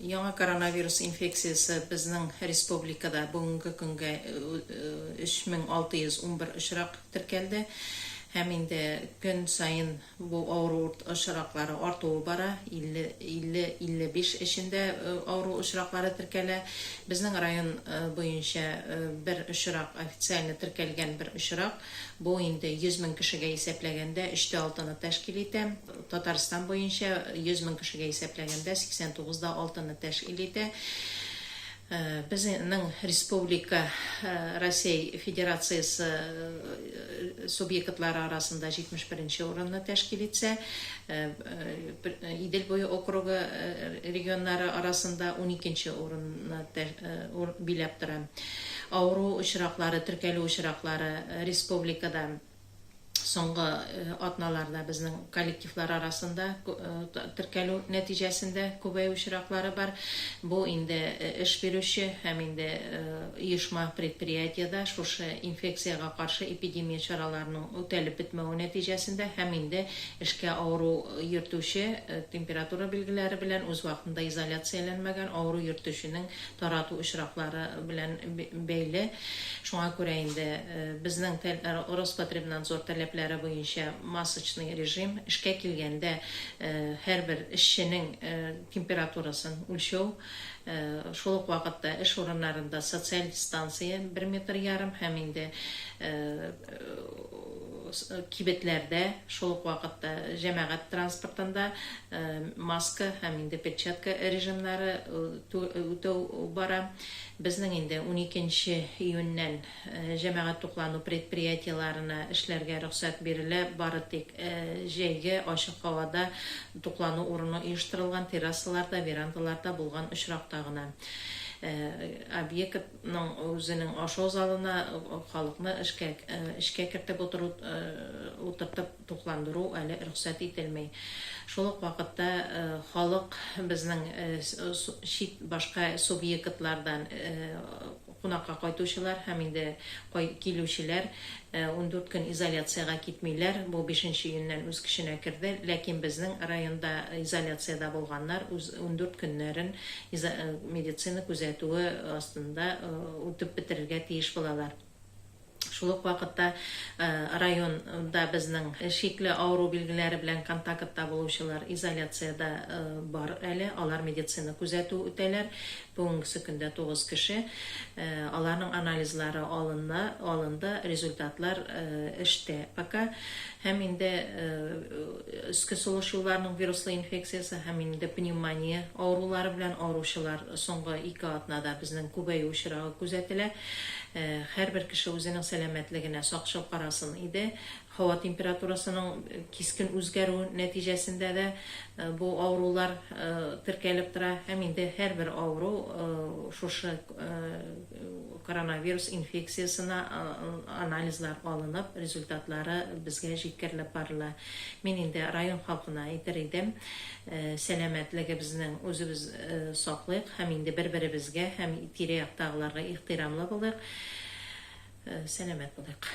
Яңа коронавирус инфекциясе безнең республикада бүгенге көнгә 3611 очрак теркәлде һәм инде көн саен бу авыру очраклары артуы бара, 50-55 эчендә авыру очраклары теркәлә. Безнең район буенча бер очрак, официально теркәлгән бер очрак, бу инде 100 мең кешегә исәпләгәндә өчтә алтыны тәшкил итә. Татарстан буенча 100 мең кешегә исәпләгәндә 89 да алтыны тәшкил итә. Безнең республика Россия Федерациясе субъектлары арасында 71 нче урынны тәшкил итсә, Идел буе округы регионнары арасында унике нче урынны биләп тора. Авыру очраклары, теркәлү очраклары республикада. соңгы атналарда безнең коллективлар арасында теркәлү нәтиҗәсендә күбәю очраклары бар. Бу инде эш бирүче һәм инде оешма предприятиедә шушы инфекциягә каршы эпидемия чараларының үтәлеп бетмәве нәтиҗәсендә һәм инде эшкә авыру йөртүче температура билгеләре белән үз вакытында изоляцияләнмәгән авыру йөртүченең тарату очраклары белән бәйле. Шуңа күрә инде безнең Роспотребнадзор таләпләре буенча масочный режим, эшкә килгәндә һәрбер эшченең температурасын үлчәү, шул ук вакытта эш урыннарында социаль дистанция бер метр ярым һәм инде кибетләрдә, шул ук вакытта җәмәгать транспортында маска һәм инде перчатка режимнары үтәү бара. Безнең инде уникенче июньнән җәмәгать туклану предприятиеләренә эшләргә рөхсәт бирелә, бары тик җәйге ачык һавада туклану урыны оештырылган террасаларда, верандаларда булган очракта гына. Объект. ның үзенең ашау залына халыкны эшкә эчкә кертеп утыру утыртып тукландыру әле рөхсәт ителми. Шул ук вакытта халык безнең чит башка субъектлардан кунакка кайтучылар һәм инде кай килүчеләр Ундүрт көн изоляциягә китмиләр, бу бишенче июньнән үз көченә керде. Ләкин безнең районда изоляциядә булганнар үз ундүрт көннәрен изо медицина күзәтүе астында үтеп бетерергә тиеш булалар. Шул ук вакытта район да безнең шикле авыру билгеләре белән контакытта булучылар изоляциядә бар әле, алар медицина күзәтүе үтәләр. Бүгенгесе көндә тугыз кеше, аларның анализлары алына, алынды, результатлар эштә пока. Һәм инде өске сулыш юлларының вируслы инфекциясе һәм инде пневмония авырулары белән авыручылар соңгы ике атнада безнең күбәю очрагы күзәтелә. Һәрбер кеше үзенең сәламәтлегенә сакчыл карасын иде. Һава температурасының кискен үзгәрү нәтиҗәсендә дә бу авырулар теркәлеп тора һәм инде һәрбер авыру шушы коронавирус инфекциясенә анализлар алынып, результатлары безгә җиткерелеп барыла. Мин инде район халкына әйтер идем, сәламәтлегебезнең үзебез саклыйк һәм инде бер-беребезгә һәм тирә-яктагыларга ихтирамлы булыйк, сәламәт булыйк.